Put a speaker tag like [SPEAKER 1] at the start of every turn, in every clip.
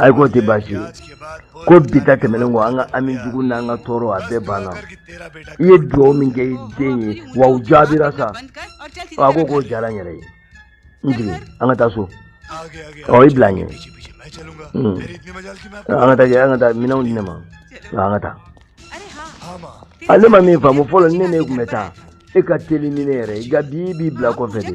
[SPEAKER 1] ayi k'o tɛ baasi ye ko bi ta tɛmɛnen kɔ an ka hami jugu n'an ka tɔɔrɔ a bɛɛ banna i ye dugawu min kɛ i den ye wa u jaabira sa a ko k'o diyara n yɛrɛ ye n jigin an ka taa so ɔ i bila n ɲɛ an ka taa an ka taa minɛnw di ne ma an ka taa a ne ma nin faamu fɔlɔ ne ne tun bɛ taa e ka teli ni ne yɛrɛ i ka bi b'i bila kɔfɛ de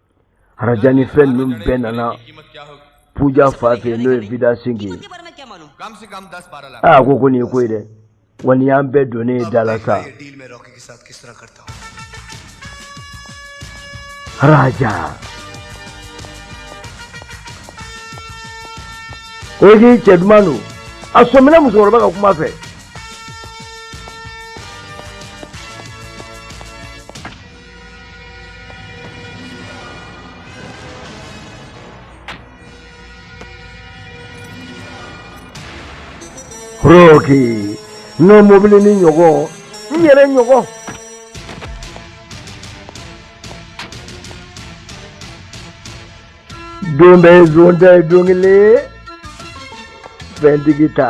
[SPEAKER 1] raja ni fɛn ninnu bɛɛ nana puja fa fɛ n'o ye vida sinki ye aa a ko ko nin ye ko ye dɛ wa nin y'an bɛɛ donnen ye da la sa raja o ye k'i cɛ duman don a sɔmina musokɔrɔba ka kuma fɛ Rocky n'o mɔbili nin ɲɔgɔn n yɛrɛ ɲɔgɔn don bɛɛ zon ta ye don kelen fɛntigi ta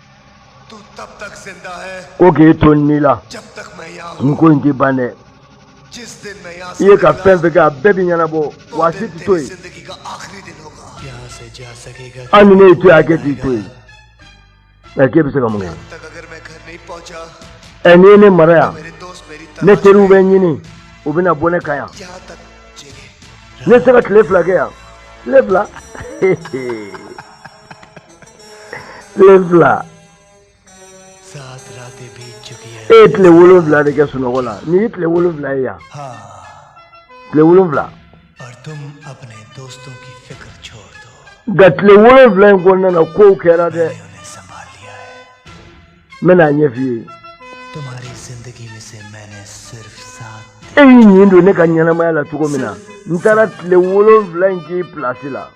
[SPEAKER 1] ko k'e to nin na nin ko in tɛ ban dɛ i ye ka fɛn fɛn kɛ a bɛɛ bɛ ɲɛnabɔ wa a si tɛ to yen hali ni ne y'i to yen hakɛ t'i to yen nka k'e bɛ se ka mun kɛ ɛ n'i ye ne mara yan ne teriw bɛ n ɲini u bɛna bɔ ne kan yan ne tɛ se ka tile fila kɛ yan tile fila. tile fila e ye tile wolonwula de kɛ sunɔgɔ la nin y'i tile wolonwula ye yan tile wolonwula nka tile wolonwula in kɔnɔna na kow kɛra dɛ n bɛna a ɲɛf'i ye e y'i ɲin don ne ka ɲɛnamaya la cogo min na n taara tile wolonwula in k'i pilasi la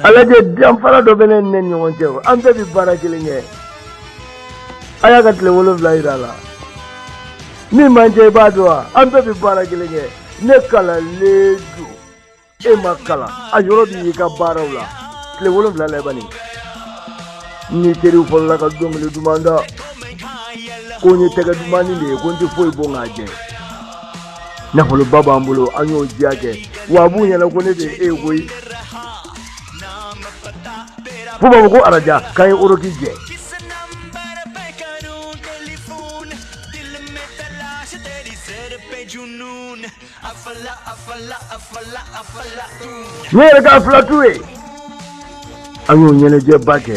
[SPEAKER 1] a lajɛ danfara dɔ bɛ ne n'e ɲɔgɔn cɛ an bɛɛ bɛ baara kelen kɛ a y'a ka tile wolonwula jira a la min b'an cɛ i b'a dɔn wa an bɛɛ bɛ baara kelen kɛ ne kalanlen don e ma kalan a yɔrɔ bɛ y'i ka baaraw la tile wolonwula laban i n'i teriw fɔlɔla ka dɔnkili duman da ko n ye tɛgɛ dumanni de ye ko n tɛ foyi bon k'a jɛ nafoloba b'an bolo an y'o diya kɛ wa a b'u ɲɛna ko ne de ye e ye koyi fo u b'a fɔ ko araja k'an ye oroki jɛ ne yɛrɛ ka filatu ye an y'o ɲɛnajɛba kɛ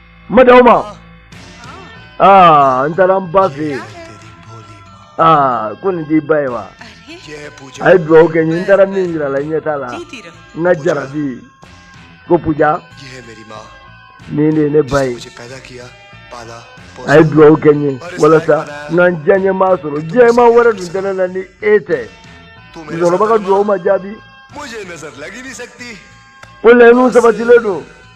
[SPEAKER 1] madauma a ah, n taara n ba fɛ yen aa ah, ko nin t'i ba ye wa a ye dugawu kɛ n ye n taara min yira a la ɲɛ t'a la n ka jarabi ko puja nin de ye ne ba ye a ye dugawu kɛ n ye walasa n ka n diyaɲɛ maa sɔrɔ diyaɲɛ maa wɛrɛ dun tɛ ne la ni e tɛ musokɔrɔba ka dugawu ma jaabi ko laɲiniw sabatilen don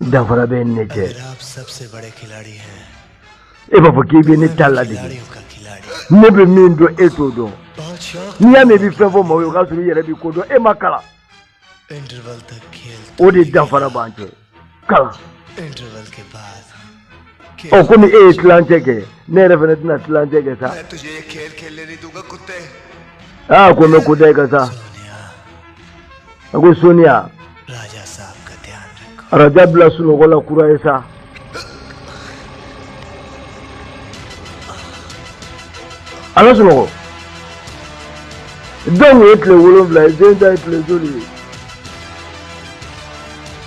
[SPEAKER 1] danfara bɛ ne n'e cɛ e b'a fɔ k'i bɛ ne ta ladege ne bɛ min dɔn e t'o dɔn n'i y'a mɛn i bɛ fɛn fɔ maaw ye o k'a sɔrɔ i yɛrɛ bɛ ko dɔn e ma kalan o de danfara b'an cɛ kalan ɔ komi e ye tilancɛ kɛ ne yɛrɛ fana tɛna tilancɛ kɛ sa aa ko n bɛ ko da i kan sa a ko soniya ye araja bila sunɔgɔ la kura ye sa a bɛ sunɔgɔ denw ye tile wolonwula ye den ta ye tile joli ye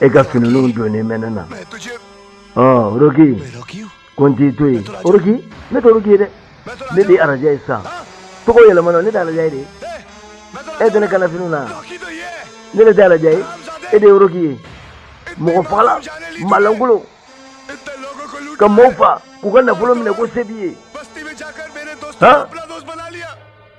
[SPEAKER 1] e ka finiw donnen bɛ ne na oroki ko n t'i to yen oroki ne tɛ oroki ye dɛ ne de ye araja ye sisan tɔgɔ yɛlɛmana ne de ye araja ye dɛ e tɛ ne kan na finiw na ne de ye araja ye e de ye oroki ye mɔgɔ fagala malankolon ka mɔgɔw fa k'u ka nafolo minɛ ko se b'i ye han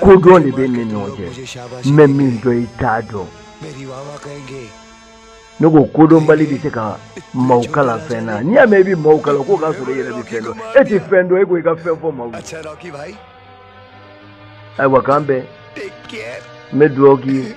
[SPEAKER 1] ko dɔ de b'an ni ɲɔgɔn cɛ n bɛ min dɔn i t'a dɔn ne ko kodɔnbali tɛ se ka maaw kalan fɛn na n'i y'a mɛn i bɛ maaw kalan o k'a sɔrɔ i yɛrɛ bɛ fɛn dɔn e tɛ fɛn dɔn e ko i ka fɛn fɔ maaw ye ayiwa k'an bɛn n bɛ dugawu k'i ye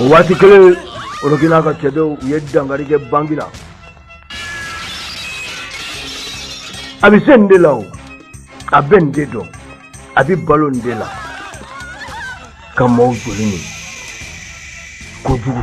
[SPEAKER 1] o waati kelen oroki n'a ka cɛdenw u ye dankari kɛ banki la a bɛ se nin de la o a bɛ nin de dɔn a bɛ balo nin de la ka maaw joli min kojugu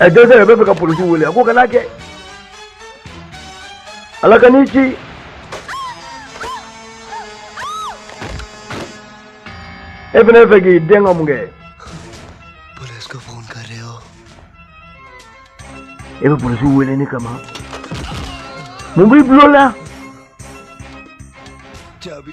[SPEAKER 1] a dai zai b'a fɛ ka polisi wele a ko kana kɛ ala ka n'i ci e fana fɛ k'i den ka mun kɛ e bɛ polisi wele ne kama mun b'i bulon la jaabi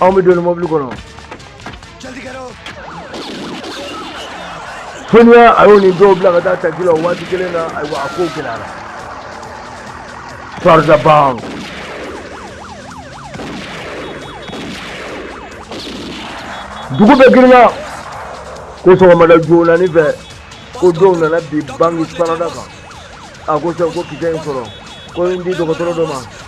[SPEAKER 1] anw bɛ don mɔbili kɔnɔ soniya a y'o ni dɔw bila ka taa taxi la o waati kelen na ayiwa a kow gɛlɛyara fardaban dugu bɛɛ girinna ko sɔgɔmada joonani fɛ ko dɔw nana bin banki sarada kan a ko sɛ ko kisɛ in sɔrɔ ko n di dɔgɔtɔrɔ dɔ ma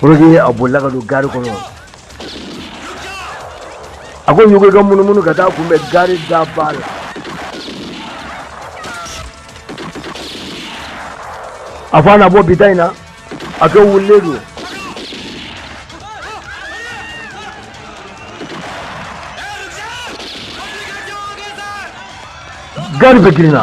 [SPEAKER 1] ko roki a bolila ka don gari kɔnɔ a ko yogi ka munumunu ka taa kunbɛn gari da ba la a fɔ a na bɔ bita in na a kɛ wulilen don gari bɛɛ girinna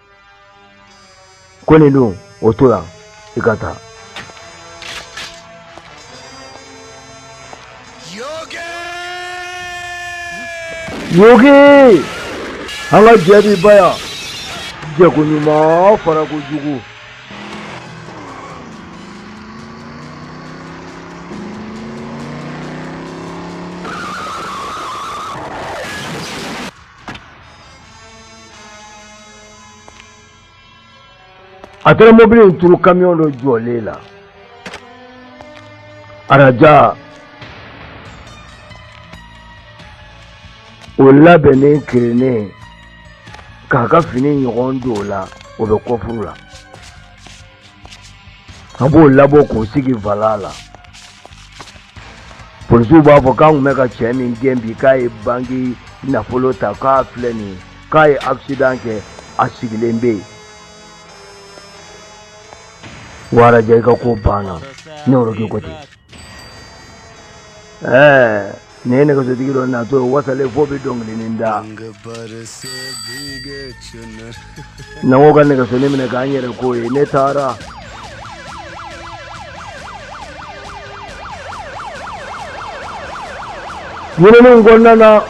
[SPEAKER 1] ko ne don o to yan i ka taa yogi an ka jɛ bɛ ban yan jɛko ɲuman farako jugu a taara mɔbili in turu kamiyɔn dɔ jɔlen la a raja o labɛnnen kirinnen k'a ka fini ɲɔgɔn don o la o bɛ kɔfuru la a b'o labɔ k'o sigi volan la polisiw b'a fɔ k'an tun bɛ ka cɛ min gɛn bi k'a ye banki nafolo ta k'a filɛ nin ye k'a ye accident kɛ a sigilen bɛ yen wa raja i ka ko banna ne roki ko ten ɛɛ nin ye nɛgɛsotigi dɔ natɔ ye wasalen fo a bɛ dɔnkili da na ko ka nɛgɛsoni minɛ k'an yɛrɛ k'o ye ne taara ɲininiw kɔnɔna na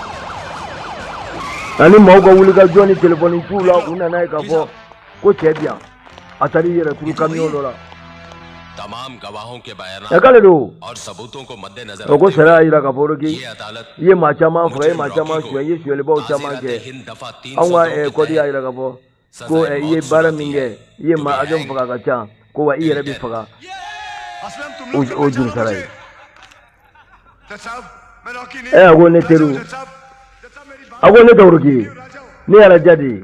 [SPEAKER 1] ani maaw ka wulikajɔ ni telefɔniciw la u nana a ye k'a fɔ ko cɛ bi yan a taara i yɛrɛ turu kamiyɔn dɔ la a k'ale don o ko sariya y'a jira k'a fɔ k'i i ye maa caman faga i ye maa caman suɲɛ i ye suɲɛlibaw caman kɛ anw ka eh, kɔdi y'a jira k'a fɔ ko eh, i ye baara min kɛ i ye maa hakɛ min faga a ka ca ko wa i yɛrɛ bɛ faga o juru sara ye ɛ a ko ne teriw a ko ne tɛ woroki ye ne ye araja de ye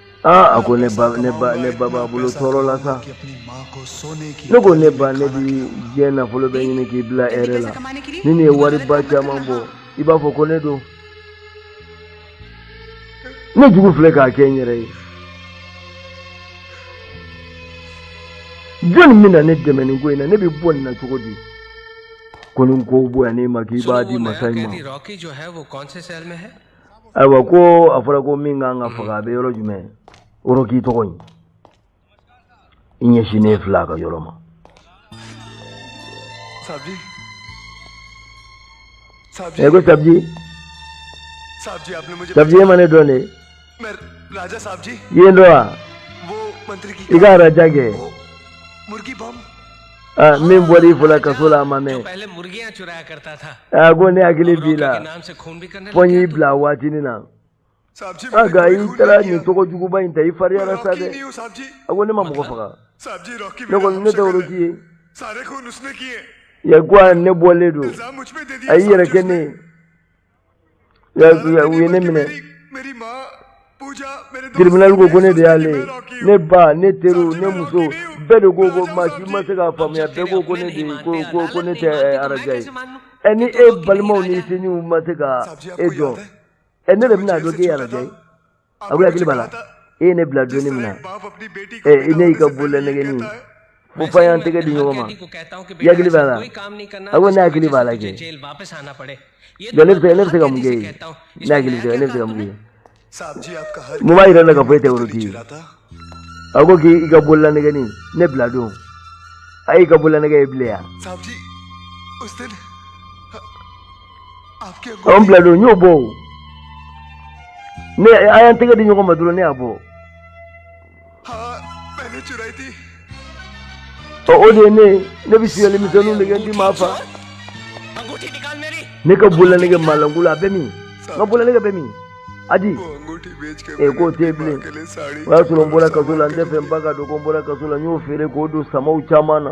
[SPEAKER 1] aa a ko ne ba ne ba ne ba b'a bolo tɔɔrɔ la sa ne ko ne ba ne bi diɲɛ nafolo bɛ ɲini k'i bila hɛrɛ la ni nin ye wariba caman bɔ i b'a fɔ ko ne don ne jugu filɛ k'a kɛ n yɛrɛ ye jɔni bɛna ne dɛmɛ nin ko in na ne bɛ bɔ nin na cogo di ko ni n ko bonyana i ma k'i b'a di masa ma ayiwa ko a fɔra ko min kan ka faga a bɛ yɔrɔ jumɛn woroki tɔgɔ in i ɲɛsinnen filɛ a ka yɔrɔ ma ɛ ko sabji sabji e ma ne dɔn de i ye n dɔn wa i ka araja kɛ min bɔra i fɔlɔ kaso la a ma mɛn a ko ne hakili b'i la fɔ n y'i bila waati min na a nka i taara nin tɔgɔ juguba in ta i fariyara sa dɛ a ko ne ma mɔgɔ faga ne kɔni ne tɛ woroki ye a ko wa ne bɔlen don a y'i yɛrɛ kɛ ne ye ya u ye ne minɛ tiribinali ko ko ne de y'ale ye ne ba ne teriw ne muso bɛɛ de ko ko maa si ma se k'a faamuya bɛɛ ko ko ne de ko ko ko ne tɛ araja ye ɛ ni e balimaw ni sinjiw ma se ka e dɔn ɛ ne de bɛna dɔn k'e araja ye a ko i hakili b'a la e ye ne bila don min na ɛ ne y'i ka bolola nɛgɛni ko fɔ an y'an tɛgɛ di ɲɔgɔn ma i hakili b'a la a ko ne hakili b'a la kɛ ne bɛ se ne bɛ se ka mun kɛ ye ne hakili tɛ ne bɛ se ka mun kɛ mun b'a yira ne la k'a fɔ e tɛ woroki ye a ko k'i ka bolola nɛgɛni ne bila don a y'i ka bolola nɛgɛ ye bilen yan anw bila don n y'o bɔ o ne an y'an tɛgɛ di ɲɔgɔn ma dɔrɔn ne y'a bɔ ɔ o de ye ne ye ne bɛ sonyali misɛnninw de kɛ n ti maa fa ne ka bololanɛgɛ maalanko la a bɛ min n ka bololanɛgɛ bɛ min adi ee k'o tɛ bilen o y'a sɔrɔ n bɔra kaso la n t'a fɛ n ba k'a dɔn ko n bɔra kaso la n y'o feere k'o don sama caman na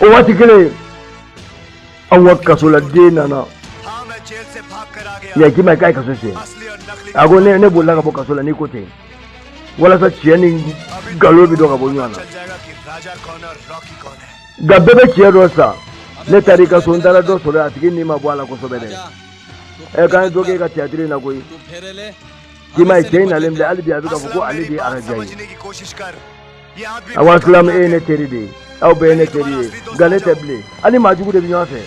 [SPEAKER 1] o waati kelen an ka kasoladen nana k'i ma ye k'a ye kaso tiɲɛ a ko ne ne bolila ka bɔ kaso la n'i ko ten walasa tiɲɛ ni nkalon bɛ dɔn ka bɔ ɲɔgɔn na nka bɛɛ bɛ tiɲɛ dɔn sa ne taara i ka so n taara dɔ sɔrɔ a tigi ni ma bɔ a la kosɛbɛ dɛ ɛ k'an ye dɔ kɛ e ka tiyatiri in na koyi k'i ma ye cɛ in nalen filɛ hali bi a bɛ k'a fɔ ko ale de ye araja ye a asilamu e ye ne teri de ye aw bɛɛ ye ne teri ye nka ne tɛ bilen aw ni maajugu de bɛ ɲɔgɔn fɛ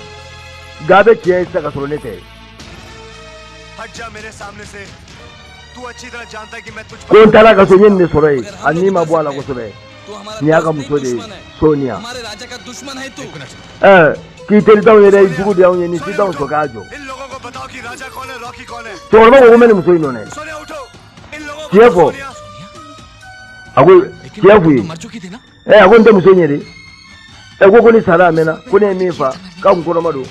[SPEAKER 1] nka a bɛ tiɲɛ ye sisan ka sɔrɔ ne tɛ ko n taara a ka so n ye nin de sɔrɔ yen a ni ma bɔ a la kosɛbɛ nin y'a ka muso de ye soniya ɛɛ k'i teri t'anw ye dɛ i jugu de y'anw ye nin si t'anw sɔn k'a jɔ cɛkɔrɔba ko ko n bɛ nin muso in dɔn dɛ tiɲɛ fɔ a ko tiɲɛ f'u ye ɛ a ko n tɛ muso in ye dɛ ɛ ko ko nin sara a mɛnna ko ne ye min fa k'a kun kɔnɔma don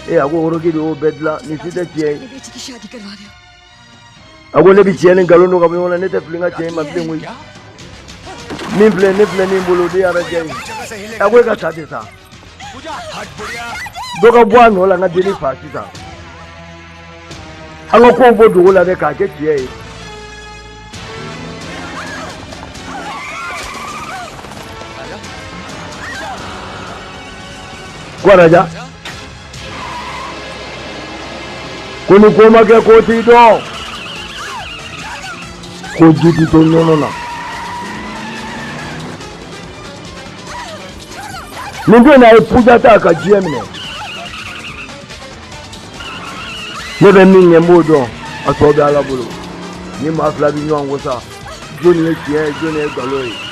[SPEAKER 1] ee a ko woroki de y'o bɛɛ dilan nin si tɛ tiɲɛ ye a ko ne bɛ tiɲɛ ni nkalon dɔn ka bɔ ɲɔgɔn na ne tɛ fili n ka tiɲɛ in ma bilen koyi min filɛ ne filɛ min bolo o de ye araja ye a ko e ka sa tɛ sa dɔ ka bɔ a nɔ la n ka dennin fa sisan an ka kow bɔ dogo la dɛ k'a kɛ tiɲɛ ye ko araja ko ni ko ma kɛ ko ti dɔn ko ji ti to nɔnɔ na ne bɛna e puja ta ka diɲɛ minɛ ne bɛ min ɲɛ n b'o dɔn a tɔ bɛ ala bolo ni maa fila bɛ ɲɔgɔn ko sa jɔni ye tiɲɛ ye jɔni ye nkalon ye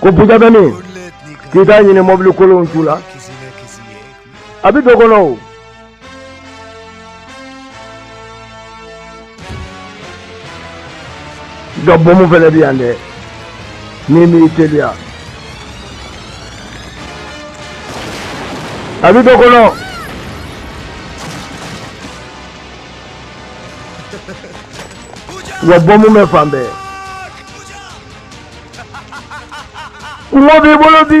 [SPEAKER 1] Ko puja bɛ min k'i' t'a ɲini mɔbili kolon' la a bɛ don kɔnɔ o. nka bɔnmu fana bɛ yan dɛ n'i m'i teliya a bɛ don kɔnɔ. wa bɔnmu bɛ fan bɛɛ. kungo b'i bolo bi.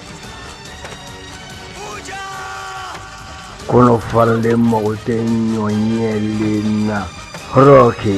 [SPEAKER 1] Kɔnɔ falen mago tɛ ɲɔ ɲɛlen na roki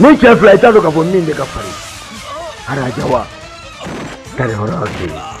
[SPEAKER 1] nin cɛ fila i t'a dɔn k'a fɔ min bɛ ka fari araja wa kari yɔrɔ yɔrɔ de ye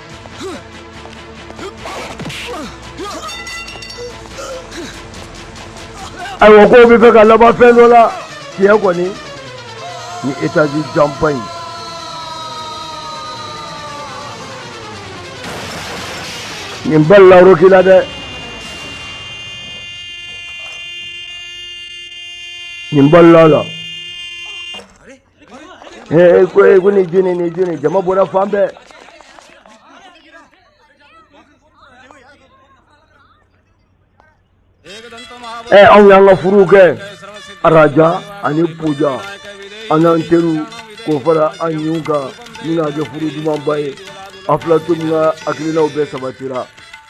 [SPEAKER 1] ayiwa ko bɛ fɛ ka laban fɛn dɔ la tiɲɛ kɔni ni etazi janba in nin balila roki la dɛ nin balila a la ee ko ee ko nin jo nin nin jo nin jama bɔra fan bɛɛ ee anw y'an ka furu kɛ araja ani puja an n'an teriw k'o fara an ɲinw kan min k'a kɛ furu dumanba ye aflatun ka hakilinaw bɛɛ sabatira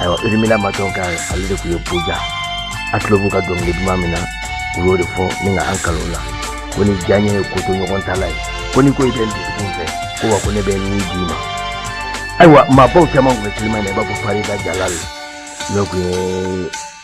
[SPEAKER 1] ayiwa urimila matɔnka ale de tun ye puja a tulo b'u ka dɔnkili duman min na u y'o de fɔ ni ka an kalo la ko ni diyaɲɛ ye kotoɲɔgɔntala ye ko ni ko i bɛ n dusukun fɛ ko wa ko ne bɛ n ni d'i ma ayiwa maabaw caman tun bɛ silima na i b'a fɔ farida jalali n'o tun ye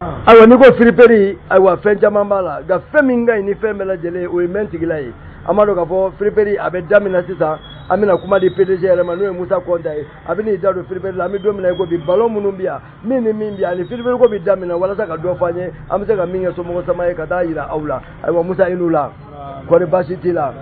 [SPEAKER 1] ayiwa n'i ko firiperi ayiwa fɛn caman b'a la nka fɛn min ka ɲi ni fɛn bɛɛ lajɛlen o ye mɛn tigila ye an b'a dɔn k'a fɔ firiperi a bɛ daminɛ sisan an bɛna kuma di pdg yɛrɛ ma n'o ye musa kɔnta ye a bɛn'i da don firiperi la an bɛ don min na i ko bi balon minnu bɛ yan min ni min bɛ yan ani firiperi ko bɛ daminɛ walasa ka dɔ fɔ an ye an bɛ se ka min kɛ somɔgɔ sama ye ka taa jira aw la ayiwa musa i ni wula kɔri baasi t'i la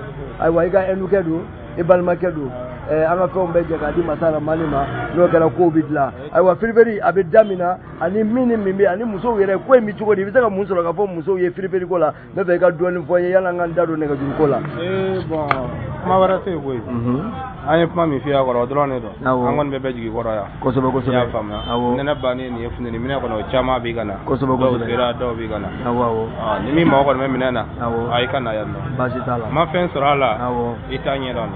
[SPEAKER 1] ayiwa i ka ɛnukɛ don i balimakɛ don an ka fɛnw bɛɛ cɛ k'a di masa la mali ma n'o kɛra kow bɛ dilan ayiwa firiperi a bɛ da min na ani min ni min bɛ ani musow yɛrɛ ko in bɛ cogo di i bɛ se ka mun sɔrɔ k'a fɔ musow ye firiperi ko la ne fɛ i ka dɔɔnin fɔ n ye yala an ka n da don nɛgɛjuru ko la. ee bɔn kuma wɛrɛ tɛ yen koyi. an ye kuma min f'i y'a kɔrɔ o dɔrɔn de don. awɔ an kɔni bɛɛ bɛ jigi kɔrɔ yan. kosɛbɛ kosɛbɛ i y'a faamuya. awɔ nɛnɛ bannen nin ye funteni minɛn kɔnɔ o caman bɛ ka na. kosɛbɛ kosɛbɛ dɔw sera dɔw bɛ ka na. awɔ awɔ. ni min mago kɔni bɛ minɛn na. awɔ a i ka na yan nɔ. baasi t'a la. ma fɛn sɔrɔ a la. awɔ i t'a ɲɛ dɔn.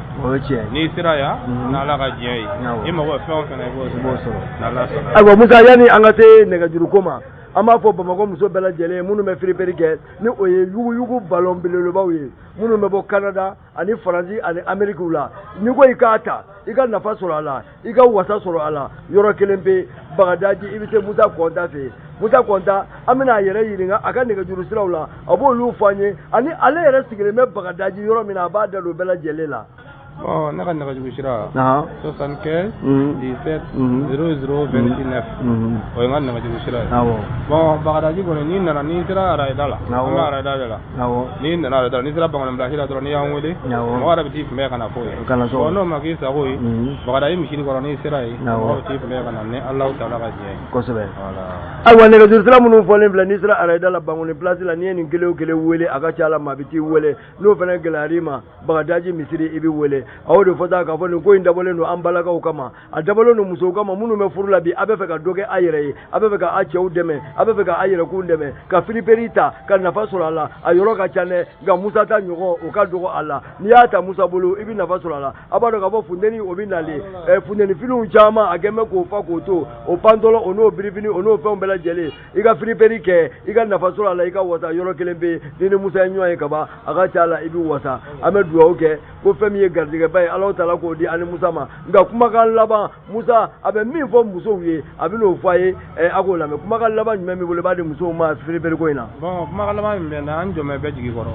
[SPEAKER 1] Ayiwa musa yanni an ka se nɛgɛjuru ko ma an b'a fɔ bamakɔ muso bɛɛ lajɛlen ye minnu bɛ firiperi kɛ ni o ye yuguyugu balɔn belebelebaw ye minnu bɛ bɔ kanada ani faransi ani ameriki la n'i ko i k'a ta i ka nafa sɔrɔ a la i ka wasa sɔrɔ a la yɔrɔ kelen bɛ bagadaji i bɛ se musa kɔnta fɛ musa kɔnta an bɛna a yɛrɛ ɲininka a ka nɛgɛjuru siraw la a b'olu fɔ an ye ani ale yɛrɛ sigilen bɛ bagadaji yɔrɔ min na a b'a da don bɛɛ lajɛlen la. bɔn ne ka nɛgɛjuru sira. soixante quinze. dix sept. zero zero vingt neuf. o ye n ka nɛgɛjuru sira ye. bɔn bagadaji kɔni n'i nana n'i sera arayida la. an bɛ arayida de la. n'i nana arayida n'i sera bankoni pilasi la dɔrɔn n'i y'an wele mɔgɔ yɛrɛ bɛ t'i kunbɛn ka na fɔ yen bɔn n'o ma k'i sago ye mhm. bagadaji misiri kɔrɔ n'i sera yen mɔgɔ bɛ t'i kunbɛn ka na ni Alahu taala ka jɛ ye kosɛbɛ ayiwa nɛgɛjuru sira minnu fɔlen filɛ n'i sera arayida la bankoni pilasi la n'i ye nin kelen o kelen wele a ka ca a la maa bɛ t'i wele n'o fana gɛlɛyar'i ma bagadaji misiri i bɛ wele a y'o de fɔ sa k'a fɔ nin ko in dabɔlen don an balakaw kama a dabɔlen don musow kama minnu bɛ furu la bi a bɛ fɛ ka dɔ kɛ a yɛrɛ ye a bɛ fɛ ka a cɛw dɛmɛ a bɛ fɛ ka a yɛrɛkun dɛmɛ ka firiperi ta ka nafa sɔrɔ a la a yɔrɔ ka ca dɛ nka musa ta ɲɔgɔn o ka dɔgɔ a la n'i y'a ta musa bolo i bɛ nafa sɔrɔ a la a b'a dɔn k'a fɔ funteni o bɛ nalen ɛ funteni finiw caman a kɛn bɛ k'o fa kɔtɔn o pantɔlɔ o n'o birifini o n'o fɛnw bɛɛ lajɛlen i ka firiperi kɛ i ka nafa sɔrɔ a la i ka wasa yɔrɔ kelen bɛ yen n'i ni musa ye ɲɔgɔn ye kaban a ka ca a la i bɛ wasa an bɛ dugawu kɛ ko fɛn min ye garijɛgɛba ye ala taala k'o di an ni musa ma nka kumakan laban musa a bɛ min fɔ musow ye a bɛn'o fɔ a ye eh, a k'o lamɛn kumakan laban jumɛn b'i bolo i b'a di musow ma firiperi ko in na. bɔn kumakan laban min bɛ n na an jɔmɛ bɛ jigi kɔrɔ.